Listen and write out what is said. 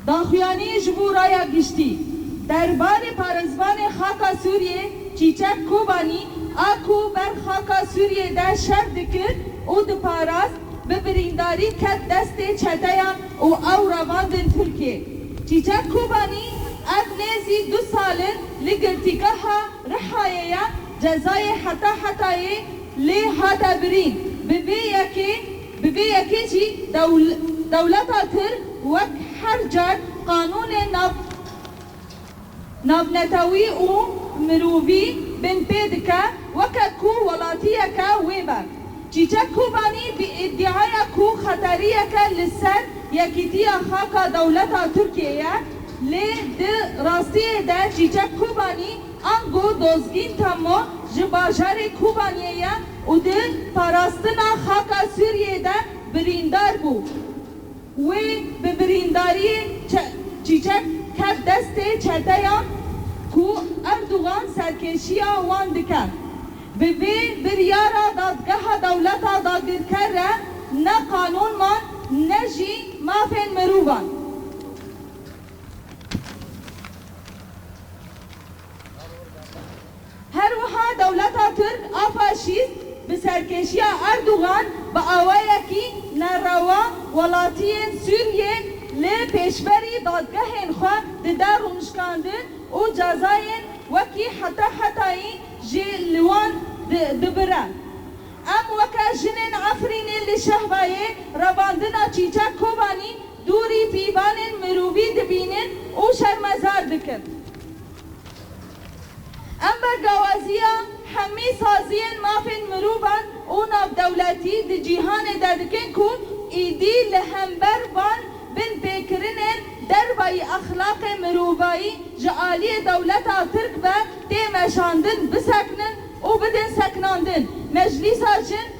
Daxuyanî ji bo Raya Giştî, Derbarê parêzvanê xaka Sûriyê Çîçek Kobanî a ku ber xaka Sûriyê de şer dikir û diparast, bi birîndarî ket destê çeteyan û ew revandin Tirkiyê. Çîçek Kobanî ev nêzî du sal in li girtîgeha Rihayê ye, cezayê heta hetayê lê hate birîn, bi vê yekê Bi vê yekê jî dewleta Tirk wek her car qanûnên navnetewî û mirovî bin pê dike weke ku welatiyeke wê be. Çîçek Kobanî bi îdiaya ku xeteriyeke li ser yekîtiya xaka dewleta Tirkiyê ye lê di rastiyê de Çîçek Kobanî, Ango Dozgîn Temmo ji bajarê Kûbaniyê ye û di parastina xaka Sûriyeyê de birîndar bû. Wê bi birîndariyê Çîçek ket destê çeteyan ku Erdogan serkêşiya wan dike. Bi vê biryara Dadgeha Dewleta Dagirker re ne qanûnman ne jî mafên mirovan. Her wiha dewleta tirk a faşîst bi serkêşiya Erdogan bi awayekî nerewa welatiyên Sûriyê li pêşberî dadgehên xwe dide rûnişkandin û cezayên wekî heta hetayî jî li wan dibire. Em weke jinên Efrînê li Şehbayê revandina Çîçek Kobanî Dûrî pîvanên mirovî dibînin û şermezar dikin. Em bi gawaziya hemî saziyên mafên mirovan û navdewletî di cîhanê de dikin ku êdî li hember van binpêkirinên dervayî exlaqê mirovayî ji aliyê dewleta Tirk ve tê meşandin bisekinin û bidin sekinandin. Meclîsa Jin